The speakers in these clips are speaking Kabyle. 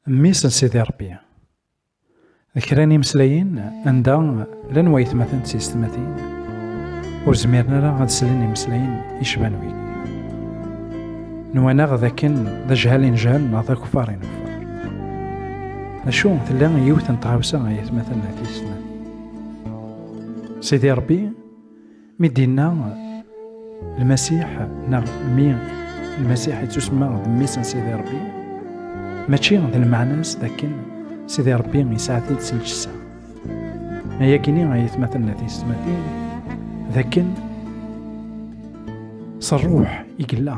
Mmi-s n Sidi Ṛebbi. Kra n imeslayen anda llan waytmaten d tiysetmatin ur zmiren ara ad slen imeslayen yecban wigi. Nwan-aɣ d akken d ajhal i nejhal neɣ d akufar i nufar. Acu tella yiwet n tɣawsa ay atmaten d tiysetmatin. Sidi Ṛebbi Mi d-inna Lmasiḥ neɣ mi Lmasiḥ yettusemma d mmi-s n Sidi Rebbi, mačči d lmeɛna-s d akken Sidi Rebbi yesɛa-t-id s lǧessa. Ma yakini ay atmaten n tiyesmatin, d akken s ṛṛuḥ i yella.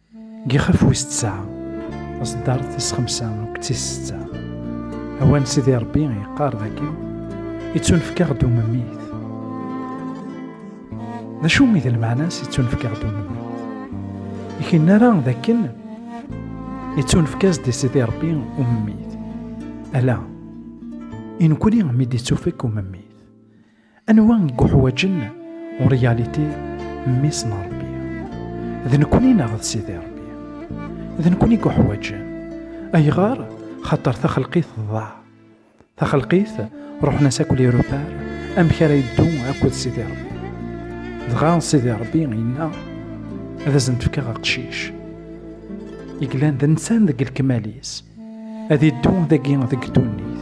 Gixef wis tesɛa, aṣeddar tis xemsa akked tis setta. Awan Sidi Ṛebbi yeqqar dagi, Ittunefk-aɣ-d umemmit. D acu i d lmeɛna-s ittunefk-aɣ-d umemmit? I k-nara d akken ittunefk-as-d i Sidi Ṛebbi umemmit. Ala, i nekkni mi d-ittufek umemmit. Anwa i uḥwaǧen en réalité mmi-s n Ṛebbi? D nekkni neɣ d Sidi Ṛebbi? D nekkni i uḥwaǧen. Ayɣer? Xaṭer taxelqit tḍaɛ. Taxelqit ruḥen-as akk lirupar amek ara yeddu akked Sidi Ṛebbi. Dɣa Sidi Ṛebbi yenna ad asen-d-fkeɣ aqcic. Yeglan d nsan deg lekmal-is. Ad iddu dagi deg ddunit,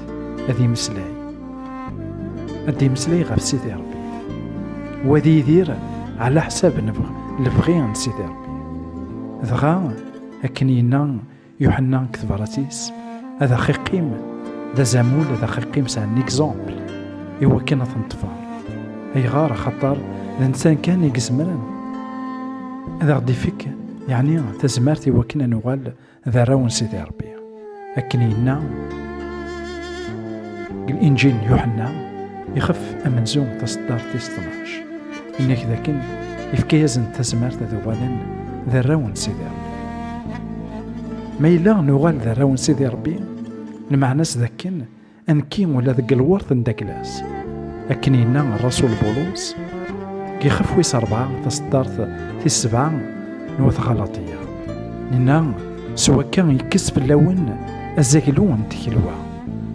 ad imeslay. Ad imeslay ɣef Sidi Rebbi. Wa ad yidir ɛla ḥsab lebɣi n Sidi Rebbi. Dɣa, akken yenna Yuḥenna deg tebrat-is, ad axiqim d azamul ad axiqim s un exemple i wakken ad ten-ṭfeɣ. Ayɣer axaṭer d nsan kan i yezemren ad aɣ-d-ifek yeɛni tazmert i wakken ad nuɣal d arraw n Sidi Ṛebbi. Akken yenna deg Inǧil n Yuḥenna, ixef amenzu taṣeddart tis tnac. Yenna-k dakken yefka-yasen tazmert ad uɣalen d arraw n Sidi Ṛebbi. Ma yella nuɣal d arraw n Sidi Ṛebbi, lmeɛna-s dakken Anki ula deg lwert n Daklas, akken yenna Rasul Bulus, gixef wis rebɛa taseddart tis sebɛa n wat Ɣalaṭiya. Nenna s wakka yekkes fell-awen azaglu n tkelwa.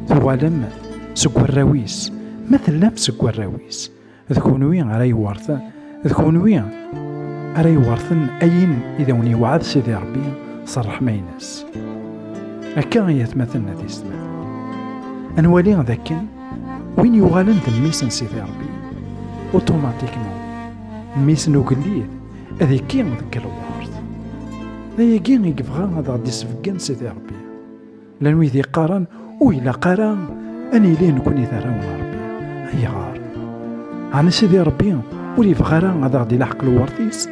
Tuɣalem seg warraw-is, ma tellam seg warraw-is, d kunwi ara yewwerten d kunwi ara yewwerten ayen i d awen-yewɛed Sidi Ṛebbi s ṛṛeḥma-ines. Akka i atmaten n tistmatin. Ad nwali d akken win yuɣalen d mmi-s n Sidi Ṛebbi, uṭumatikman, mmi-s n ugellid, ad ikki deg lweṛt. D ayagi i yebɣa ad aɣ-d-isbeggen Sidi Ṛebbi. Lan wid yeqqaren ur ilaq ara ad nili nekkni d arraw n Rebbi. Ayɣer? Ɛni Sidi Rebbi ur yebɣi ara ad aɣ-d-ilaḥeq lewert-is?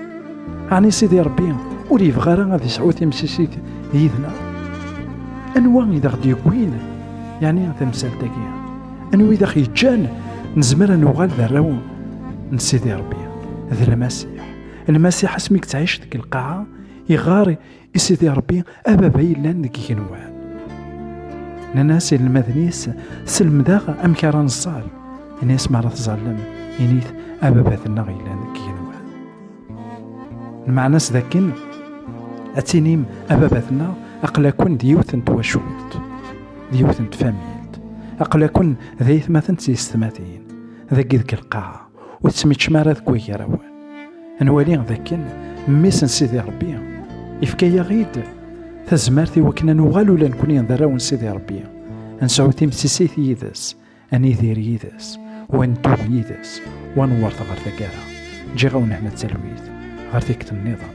Ɛni Sidi Rebbi ur yebɣi ara ad yesɛu timsisit yid-neɣ? Anwa i d aɣ-d-yewwin yani tamsalt-agi? Anwa i d aɣ-yeǧǧan nezmer ad nuɣal d arraw n Sidi Rebbi? D Lmasiḥ. Lmasiḥ asmi yettɛic deg lqaɛa, iɣar I Sidi Ṛebbi, a baba yellan deg igenwan. Nnan-as inelmaden-is, selmed-aɣ amek ara neẓẓal. Ini-as mi ara tẓallem, init a baba-tenneɣ yellan deg igenwan. Lmeɛna-s d akken, ad tinim a baba-tenneɣ aql-akun d yiwet n twacult, d yiwet n tfamilt, aql-akun d ayetmaten d tiyessetmatin, dagi deg lqaɛa. ur tettmeččem ara deg wagraw nwali dakken mmi-s n Sidi Rebbi ifka-yaɣ-id tazmert i wakken ad nuɣal ula nekni d arraw n Sidi Rebbi ad nesɛu timsisit yid-s ad nidir yid-s u ad neddu yid-s u ad nwert ɣer taggara ǧǧiɣ-awen hna talwit ɣer tikkelt nniḍen